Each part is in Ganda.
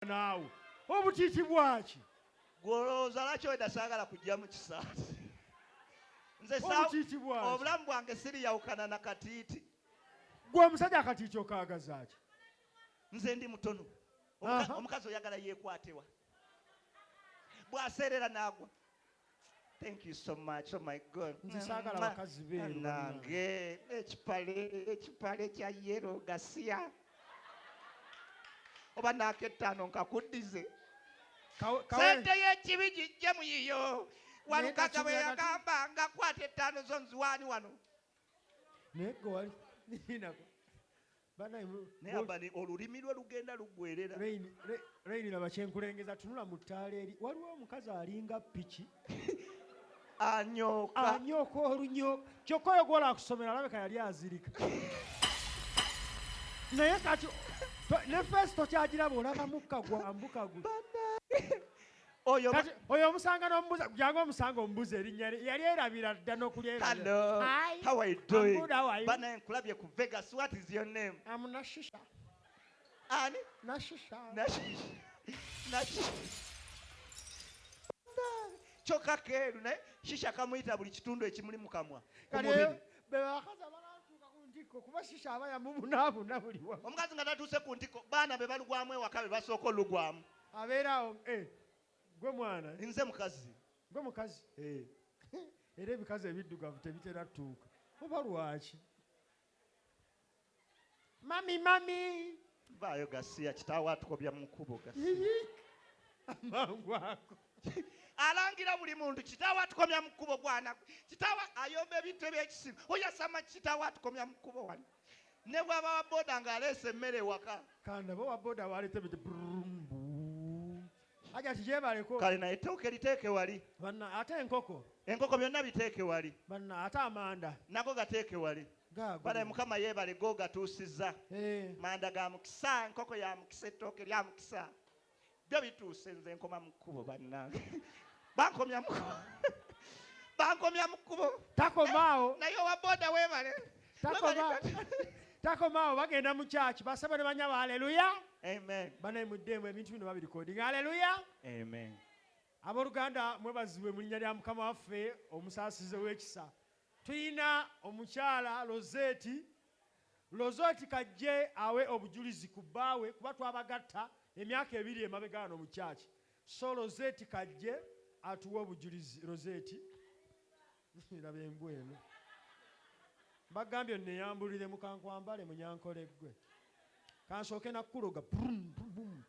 bw'oba naawe obutiiti bwaki gwolowooza lwaki weda saagala kujja mu kisaasi nze obulamu bwange siriyawukana na katiiti gwe omusajja akatiiti okaagazaaki nze ndi mutono omukazi oyagala yeekwatewa bwaseerera naagwa Thank you so much. Oh my God. Nze saagala bakazi beeru. Nange ekipale ekipale kya yero gasiya. Oba n'akettaano nkakuddize. Sente y'ekibi gijje mu yiyo. Walukaga bwe yagamba nga kwata ettaano zo nziwaani wano. naye gwe wali ninako banaye mu- naye abani olulimi lwe lugenda luggwerera Rain- Ra- rain laba kyenkulengeza tunula mu ttaala eri waliwo omukazi alinga piki anyooka anyooka olunyo kyokka oyo gwola akusomera alabika yali azirika naye kati to- ne feesi tokyagiraba olaba mukka gwambuka gwe oyo Kati, oyo omusanga n'omubuza jangu omusanga omubuza erinnya lye yali erabira dda Hello, how are you doing? Good, how are you? Bana nkulabye ku Vegas. What is your name? I'm Nashisha. Ani? Nashisha. Nashisha. Nashisha. Choka keru naye shisha kamuyita buli kitundu ekimuli mu kamwa. Kale be bakaza balatuuka ku ntiko kuba shisha aba yamubunaabuna buli wamu. Omukazi nga tatuuse ku ntiko baana be balugwamu ewaka be basooka olugwamu. abeera awo eh, gwe mwana eh? nze mukazi gwe mukazi eh. era ebikazi ebiddugavu tebitera tuuka oba lwaki mami mami vaayo gasiya kitaawo atukobya mu nkubo gasiya amangu ako alangira buli muntu kitaawo atukomya mu kkubo gwana kitaawo ayomba ebintu ebyekisimu oyasama kitaawo atukomya mu kkubo wano ne bwaba wa boda ng'aleese emmere ewaka kandaba owa boda waleeta ebiti aja kijebaleko kale naye ettooke liteeke wali banna ate enkoko enkoko byonna biteeke wali banna ate amanda nago gateeke wali bale mukama yeebale go gatuusizza eh. manda ga mukisa enkoko ya mukisa ettooke lya mukisa byo bituuse nze nkoma mu kkubo bannange bankomya mu bankomya mu kkubo takomaawo eh, naye owa boda webale takomaawo bagenda mu kyaki basaba ne banyabo aleluya banaye muddeemu ebintu bino babirikodinga aleluya abooluganda mwebazibwe mu linnya lya mukama waffe omusaasize w'ekisa tulina omukyala roseeti Lozoti k'ajje awe obujulizi ku bbaawe kuba twabagatta emyaka ebiri emabega wano mu church so Lozeti k'ajje atuwe obujulizi. Lozeti, laba embwa eno. Mbagambye onneyambuliremu ka nkwambale munyankole ggwe. Ka nsooke na kukuloga. Brum, brum, brum.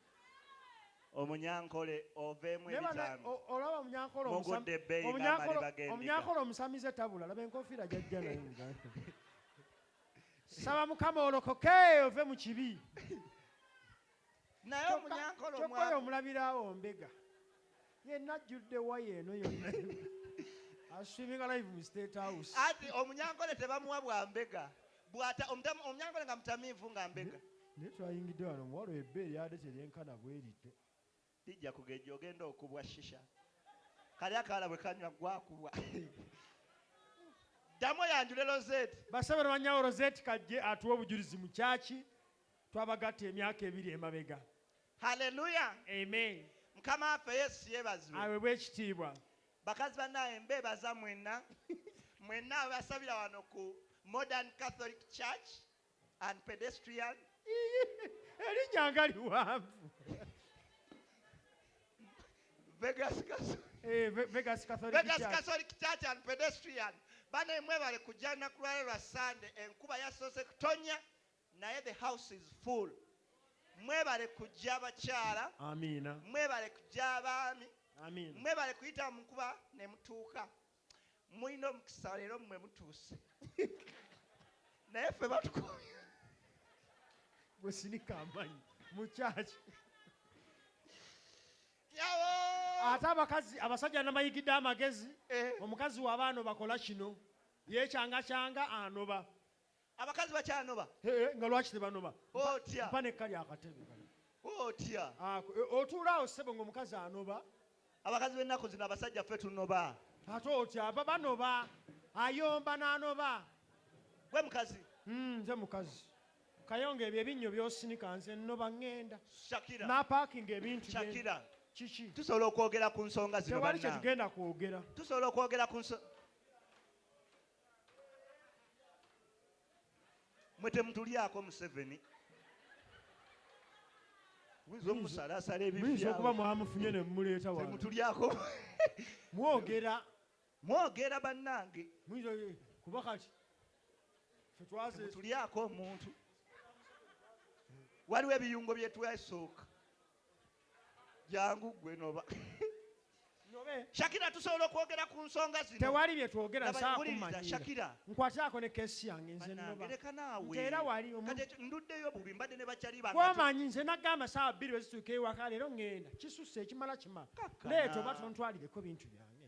Omunyankole oveemu Naye bana- ebitaano. o- olaba omunyankole omusam- Mugudde ebbeeyi omunyankole- ng'amaliba g'endiga. omunyankole omusamize tabula laba enkofiira gyajja nayo muganda. saba mukama olokoke ove mu kibi naye omunyankoloyo omulabiraawo mbega yenna ajjudde waya eno yonna aswiminga live mu state house ati omunyankole tebamuwa bwa mbega bwata omunyankole nga mutamiivu nga mbega naye twayingidde wano omuwalo ebbe eryade teryenkana bwerityo Bijja kugejja ogenda okubwa shisha. Kali akawala bwe kanywa gwe akubwa. Ddamu oyanjule Rosette. Basabe Lwanyawo Rosette Kajje atuwe obujulizi mu kyaki twabagatta emyaka ebiri emabega. Hallelujah. Amen. Mukama waffe Yesu yebazibwe. Awebwe ekitiibwa. Bakazi banaye mbebaza mwenna mwenna abasabira wano ku Modern Catholic Church. and pedestrian erinnya nga liwanvu vegas Catholic- Eh, Ve- vegas catholic Vegas Church. Catholic Church and pedestrian bana emwe bale kujja naku lwale lwa sande enkuba yasoose kutonya naye the house is full mwebale kujja abakyala amiina mwebale kujja abaami amiina mwebale kuyita mu nkuba ne mutuuka Mulina omukisa leero mmwe mutuuse. Naye ffe batukoye. Gwe sinika amanyi mu kyaki. Ate abakazi abasajja namayigidde amagezi eh. omukazi wabaano bakola kino yekyanga kyanga anoba abakazi bakyanoba eh, nga lwaki tebanoba otya mpa nekka lyakatebe otya ah, eh, otuula awo ssebo ngaomukazi anoba abakazi b'ennaku zino abasajja ffe tunoba ate otya aba banoba ayomba n'anoba gwe mukazi hmm, nze mukazi kayonga ebyo ebinnyo byosinika nze nnoba ŋŋenda napakinga ebintu shakira kiki tusobola okwogera ku nsonga zino tewali kyetugenda kwogera tusobola okwogera ku nsonga mwe temutulyako museveni oyinza omusalaasala ebiyinza okuba mwamufunye ne mumuleeta wamutulyako mwogera mwogera bannange kuba kati fetwazetulyako omuntu waliwo ebiyungo byetwasooka jangu gwe noba shakira tusobola okwogera ku nsonga zino tewali byetwogera shakira nkwatako ne kesi yange nze nobaera walionduddeyo bubi mbadde ne bakyaliwamanyi nze nagamba saawa bbiri wezituuka ewaka leero ŋŋenda kisusse ekimala kimala leeta oba tontwalireko bintu byange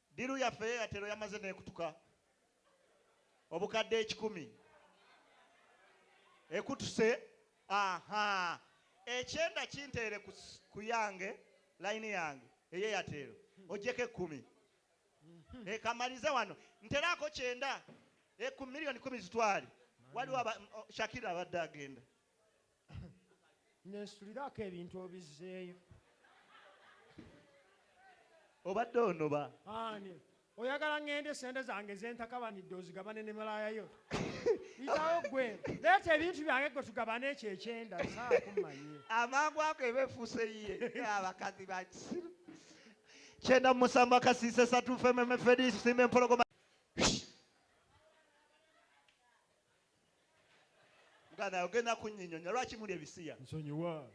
Ddiiru yaffe ye yatero yamaze n'ekutuka obukadde ekikumi ekutuse aha ekyenda kinteere ku yange layini yange eye yateero ojjeko ekkumi mhm. ekamalize wano nteraako kyenda eku miliyoni kumi zitwale waliwo shakira abadde agenda nensuliraako ebintu obizzeeyo obadde onoba ani oyagala ŋŋende sente zange zentakabanidde ozigabane ne malaaya yo itawo gwe leeta ebintu byange gwe tugabane ekyo ekyenda saakumanye amangu ako eba efuuse yiye abakazi bakisiru kyenda musanvu akasiise satu fememefedisime empologoma muganda ogenda kunyinyonya lwaki muli ebisiya nsonyiwa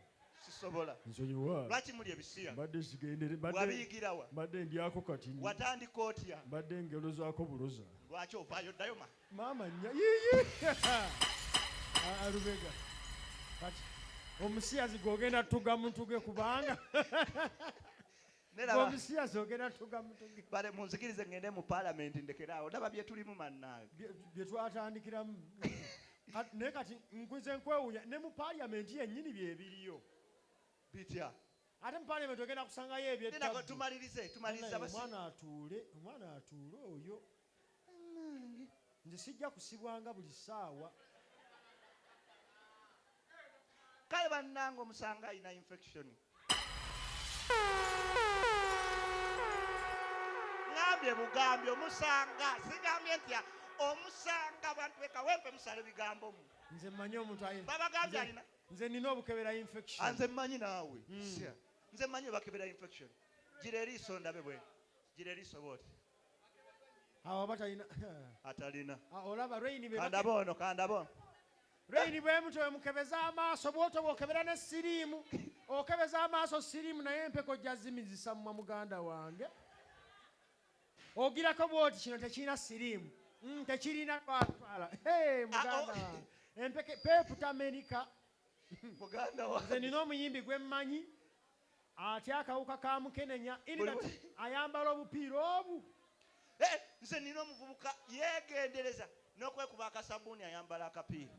sisobola nsonyiwa lwaki muli ebisiya mbadde zigendere wabiyigirawa mbadde ndyako kati watandika otya mbadde ngelo zako buloza lwaki ovaayo ddayo ma maama nya yiyi alubega kati omusiyazi gwogenda tuga muntuge kubanga bale munzikirize ngende mu palamenti ndekeraawo ndaba byetulimu mannaage byetwatandikiramu naye kati nkuze nkwewunya ne mu palamenti yennyini byebiriyo bitya ate mu palamenti ogenda kusangayo ebyetumalirize tumalirize omwana atuule omwana atuule oyo bannange nze sijja kusibwanga buli ssaawa kale bannange omusanga alina infection ngambye bugambye omusanga sigambye nti omusanga bantu bekawempe musale bigambo mu nze manyi omuntu babagambye alina nze nina obukebera infection ah, nze manyi naawe hmm. nze manyi bakebera infection gira eriiso ndabe bwe gira eriiso booti awo aba talina atalina ah, olaba reyini kandaba ono kandaba ono reyini bwemuto wemukebeza amaaso bwoto bwokebera ne siriimu okebeza amaaso siriimu naye empeko jazimizisa mumwa muganda wange ogirako bwoti kino tekirina siriimu mm, tekirina twatwala ah, muganda oh. wange empeke peeputa amerika muganda wange nze nina omuyimbi gwemmanyi atya akawuka ka mukenenya inat ayambala obupiira obu eh, nze nina omuvubuka yegendereza nokwekuba akasabuuni ayambala akapiira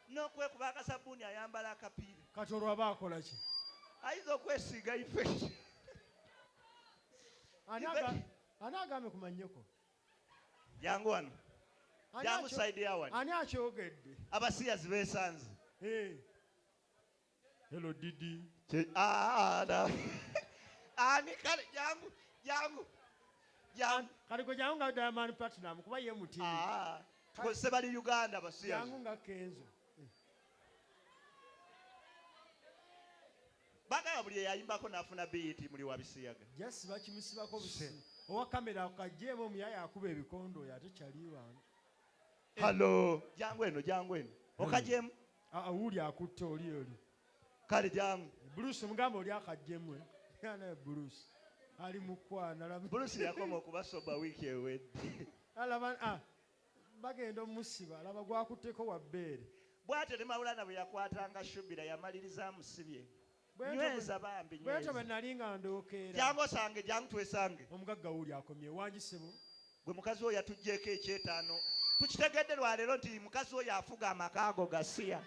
nokwekuba akasabuuni ayambala akapiira kati olwaba akolaki ayinza okwesiiga ifeki ani agambe kumanyoko jangu wano jangu saidi yawani ani akyogedde abasiyazi besanze eh. Hello Didi. Che ah na. Ani kale jangu jangu. Jangu. Kale ko jangu ngada man platinum kuba ye muti. Ah. Ko se bali Uganda basiya. Jangu nga kenzo. Baga abuli yayimba ko nafuna beat muli wabisiyaga. Yes bakimusiba ko bisi. Owa kamera akajemo muyaya akuba ebikondo yate chali wange. Hello. Jangu eno jangu eno. Okajemo. Mm. Ah, wuuli akutte oli oli kale jamu bulusi mugamba oli akajjemwe naye bulusi ali mukwana bulusi yakoma okuba soba wiiki ewedde alaba ah, bagenda omusiba alaba gwakutteko wabbeere bwatyo ne mawulana bwe yakwatanga shubira yamaliriza amusibye nyweza bambi bwetyo bwe nali nga ndookeera jangu osange jangu twesange omugagga wuuli akomye wangi ssebo gwe mukazi oyo yatuggyeko ekyetaano tukitegedde lwaleero nti mukazi oyo afuga amaka ago gasiya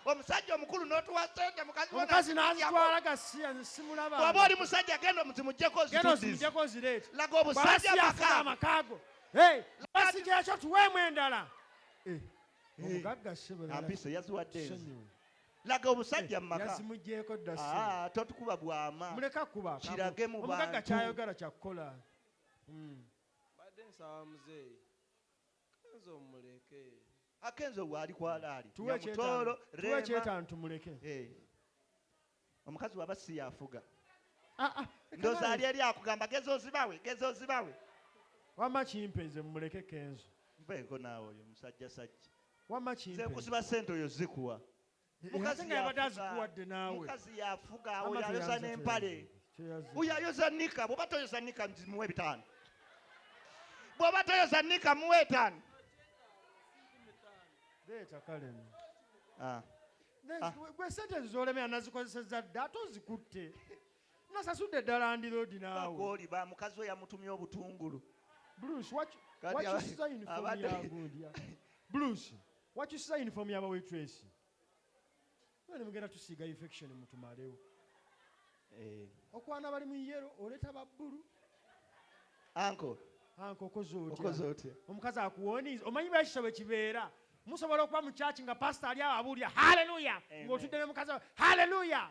omusajja omukulu notuwa sente mukazi nazitwala gasiya simulaba waba oli musajja genda omuzimujjeko ozimujjeko ozireeta laga obusajja amakago basija ekyo tuweemu endala eh, eh, omugagga sibulampiso yaziwadde laga obusajja mumaka eh, yazimujeeko dda ah, totukuba bwama muleka kuba kirage mu bantu omugaga kyayogala kyakukola hmm. badde nsaba muzeeyi kanze omuleke akenzo waali kwalaali yamutolo tuwe kyetano tumuleke eh. omukazi waba si yafuga ah, ah, ndoza ali eri akugamba geza ozibawe geza ozibawe wama kimpe nze mumuleke kenzo mbeeko naawe oyo musajja sajja wamma kimpe nze nkusiba sente oyo zikuwa mukazi yafuga oyo ayoza n'empale oyo ayoza nika bwoba toyoza nika muwe ebitaano bwoba toyoza nika muwe etaano ah. ah. gwe sente zolemera nazikozeseza dda ate ozikutte nasasudde ddala ndiroodi naawe oli ba mukazi we yamutumye obutungulu wakyusiza uniform yagundi blues wakyusiza uniform yaba waitress ne mugenda tusiiga infection mutumalewo eh. okwana bali mu yero oleta ba bulu anko anko okoze otya omukazi akuwoniiza omanyi bwekisa bwe kibeera musobola okuba mu kyaki nga pasita ali awo abuulira haleluya eh, ng'otudde ne mukazi haleluya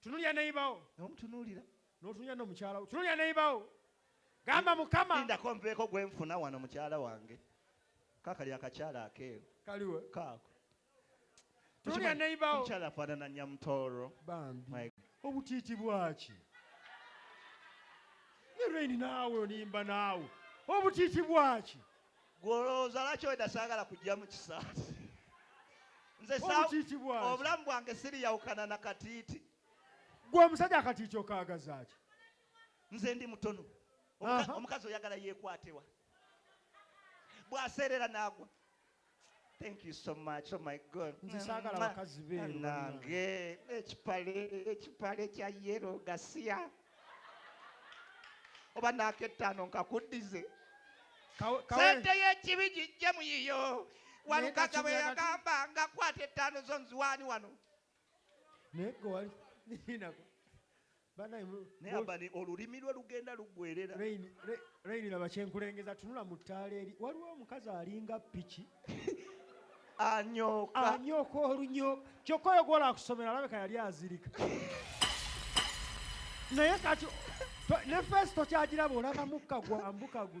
tunulira neyibawo nomutunulira notunulira nomukyalawo tunulira neyibawo gamba mukama indako nveeko gwenfuna wano mukyala wange kakali akakyala akeeru kaliwe kaako tunulira neyibawo mukyala afaanana nyamutooro bambi obutiiti bwaki ne reni naawe onimba naawe obutiiti bwaki gwe olowooza lwaki weda saagala kujja mu kisaasi nze obulamu bwange siriyawukana na katiiti gwe omusajja akatiiti okaagazaaki nze ndi mutono omukazi oyagala yeekwatewa bwaseerera naagwa Thank you so much. Oh my God. Nze saagala bakazi be. Nange ekipale ekipale kya yero gasiya. Oba n'akettaano nkakuddize. Sente y'ekibi gijje mu yiyo. Walukaga bwe yagamba nga kwata ettaano zo nziwaani wano. Naye gwe wali. Banaye mu Naye abani olulimi lwe lugenda lugwerera. Rain rain laba kyenkulengeza tunula mu ttaala eri waliwo omukazi alinga piki anyoka anyoka olunyoka kyokka oyo gwola akusomera alabika yali azirika naye kati ne feesi tokyagiraba olaba mukka gwambuka gwe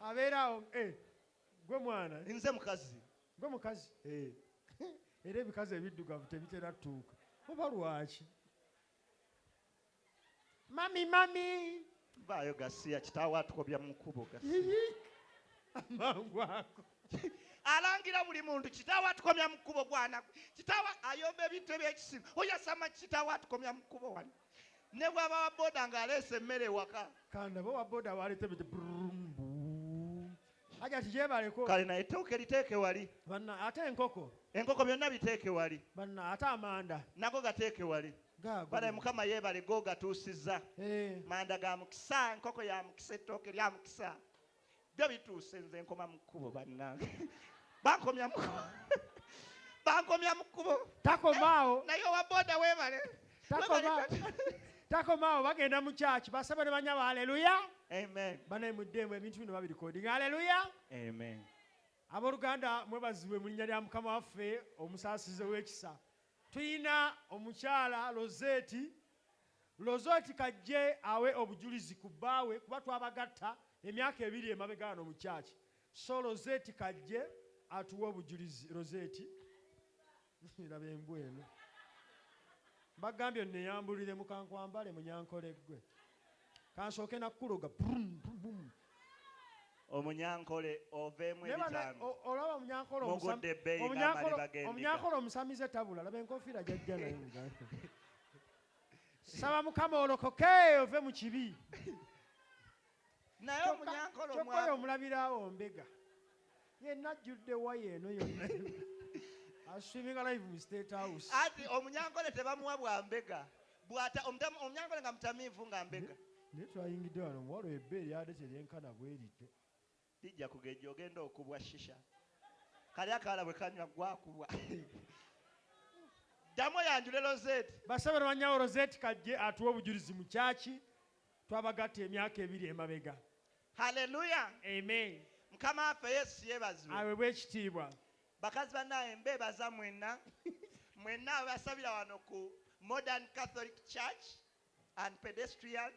abeera awo eh, gwe mwana eh? nze mukazi gwe mukazi eh. era ebikazi ebiddugavu tebitera tuuka oba lwaki mami mami vaayo gasiya kitaawo atukobya mu kkubo amangu ako alangira buli muntu kitaawo atukomya mu kkubo gwana kitaawo ayomba ebintu ebyekisimu oyasama kitaawo atukomya mu kkubo wano ne bwaba wa boda ng'aleese emmere ewaka kandaba owa boda awaleeta ebite aja tijebaleko kale naye ettooke liteeke wali banna ate enkoko enkoko byonna biteeke wali banna ate amanda nago gateeke wali banaye mukama yeebale go gatuusizza eh. manda ga mukisa enkoko ya mukisa ettooke lya mukisa byo bituuse nze nkoma mu kkubo bannange bankomya mu bankomya mu kkubo takomaawo eh, naye owa boda webale takomaawo bagenda mu kyaki basaba ne banyabo aleluya banaye muddeemu ebintu bino babirikoding aleluya abooluganda mwebazibwe mu linnya lya mukama waffe omusaasize w'ekisa tulina omukyala roseeti Lozoti kajje awe obujulizi ku bbaawe kuba twabagatta emyaka ebiri emabega wano mu church so Lozeti kajje atuwe obujulizi Lozeti laba embwa eno mbagambye nneyambulire mukankwambale munyankole ggwe kansooke nakukuloga omunyankole oveemu ebitaanoolaba omunyankole omusamize tabula laba enkofiira jajja naye saba mukama olokoke ove mu kibi naye omunyankole omwana omulabirawo mbega yenna ajjudde waya eno yonna aswiminga live mu state house ati omunyankole tebamuwa bwa mbega bwata omunyankole nga mutamiivu nga mbega naye twayingidde wano omuwala ebbe eryade teryenkana bwerityo Bijja kugejja ogenda okubwa shisha. Kali akawala bwe kanywa ggwe akubwa. Ddamu oyanjule Rosette. Basabe Lwanyawo Rosette Kajje atuwe obujulizi mu kyaki twabagatta emyaka ebiri emabega. Hallelujah. Amen. Mukama waffe Yesu yebazibwe. Awebwe ekitiibwa. Bakazi banaye mbebaza mwenna mwenna abasabira wano ku Modern Catholic Church. and pedestrian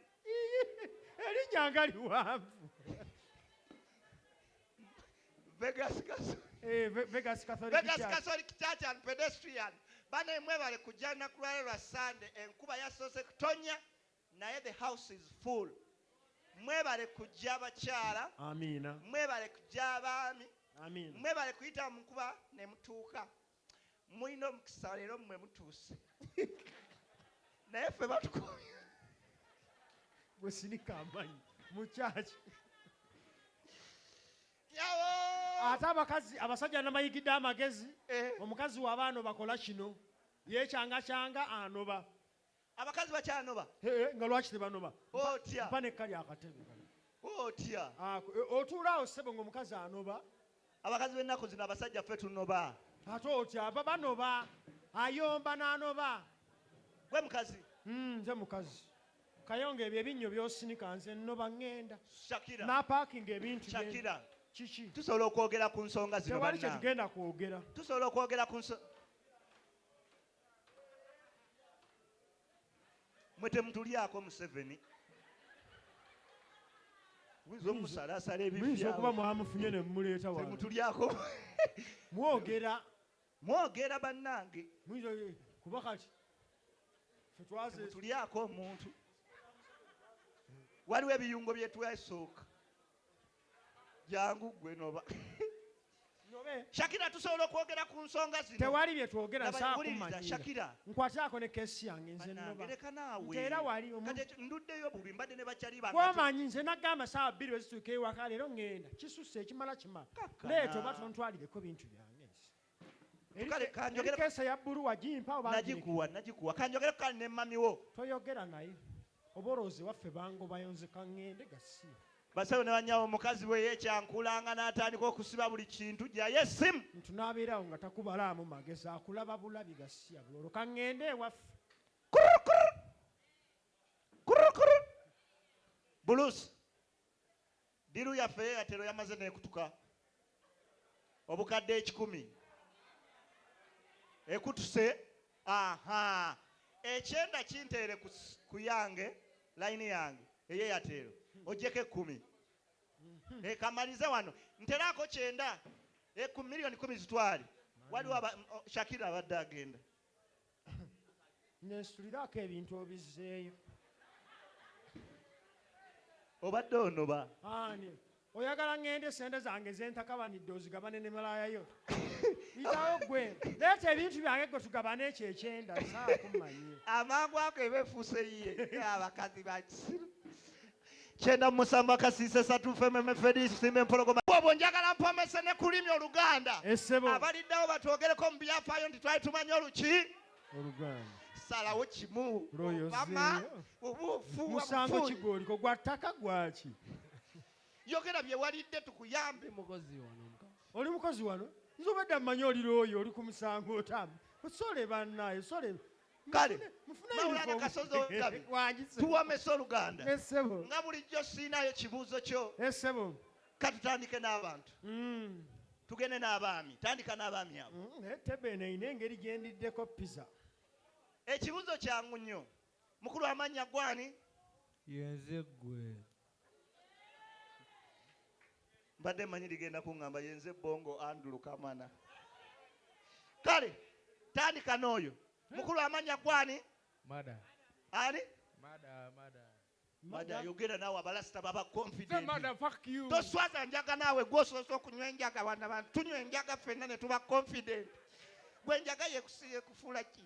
elinya nga liwanvu vegas eh, vegas catholic church and pedestrian bana emwebale kujja lunaku lwale lwa sande enkuba yasoose kutonya naye the house is full mwebale kujja abakyala mwebale kujja abaami mwebale kuyita mu nkuba ne mutuuka Mulina omukisa leero mmwe mutuuse. Naye ffe batukooye. Gwe sinika amanyi mu kyaki. Ate abakazi abasajja namayigidde amagezi eh. omukazi wabaano bakola kino yekyanga kyanga anoba abakazi bakyanoba Hee, nga lwaki tebanoba Otya. mpa nekka lyakatebe otya Ako, e, otuula awo ssebo ngaomukazi anoba abakazi b'ennaku zino abasajja ffe tunoba ate otya aba banoba ayomba n'anoba gwe mukazi Mm, nze mukazi kayonga ebyo ebinnyo byosinika nze nnoba ŋŋenda shakira napaakinga ebintu bye- shakira kiki tusobola okwogera ku nsonga zino tewali kye banange. tugenda kwogera tusobola okwogera ku nso mwe temutulyako museveni oyinza omusalaasala ebiyinza okuba mwamufunye ne mumuleeta wamutulyako mwogera mwogera bannange kuba kati fetwazetulyako omuntu waliwo ebiyungo byetwesooka jangu gwe noba shakira tusobola okwogera ku nsonga zino tewali bye twogera shakira nkwatako ne kesi yange nze nobaera walionduddeyo bubi mbadde ne bakyali bamanyi nze nagamba saawa bbiri wezituuka ewaka leero ŋŋenda kisusse ekimala kima leeta oba tontwalireko bintu byange kesa ya bulu wagimpa obnagikuwa nagikuwa kanjogere kale ne mami wo toyogera naye oborozi waffe bango bayonzeka ngende gasi basawo ne banyawo omukazi bwe yekyankulanga n'atandika okusiba buli kintu gyayo esimu ntunabeerawo nga takubalaamu magezi akulaba bulabi gasiya bulolo kangende ewaffe bulusi Ddiiru yaffe ey'Eyatero yamaze n'ekutuka obukadde ekikumi. Ekutuse? Ahaa. Ekyenda kinteere ku yange, layini yange ey'Eyatero. Oggyeko ekkumi. Eh, kamalize wano. Nteraako kyenda. Ekkumi, eh, miliyoni kkumi zitwale. Waliwo aba, Shakira abadde agenda. nensuliraako ebintu obizzeeyo obadde onoba ani oyagala ŋŋende sente zange zentakabanidde ozigabane ne malaaya yo itawo gwe leeta ebintu byange gwe tugabane ekyo ekyenda saakumanye amangu ako eba efuuse ye abakazi bakisiru kyenda musanvu akasiisa esatu fememe fedi simba empologoma obwo njagala mpomese ne kulimi oluganda abaliddawo batwogereko mu byafaayo nti twali tumanyi oluki salawo kimu mama obuufu musango kigoliko gwa ttaka gwaki yogera byewalidde tukuyambe mukozi wano oli mukozi wano nze obadde mmanyi oli looyo oli ku musango otamu osole bannaye osole kale mawulana kasozi ogabi tuwamesa oluganda nga bulijjo siinayo kibuuzo kyo katutandike n'abantu mm. tugende n'abaami tandika n'abaami abo mm, eh, tebena ina engeri gyendiddeko pizza ekibuuzo kyangu nnyo mukulu amannya gwani yenze gwe mbadde manyi ligenda kuŋŋamba yenze bongo andulu kamana kale tandika n'oyo mukulu amanya gwani ani mada yogera naawe abalasita baba confidentoswaza njaga naawe gwosoose okunywa enjaga wana bantu tunywa enjaga fenna ne tuba confident gwe enjaga yekufuula ki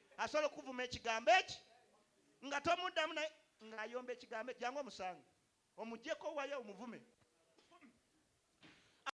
asobola okuvuma ekigambo eki nga tomuddamu naye ng'ayomba ekigambo jangu omusange omujeko wayo omuvume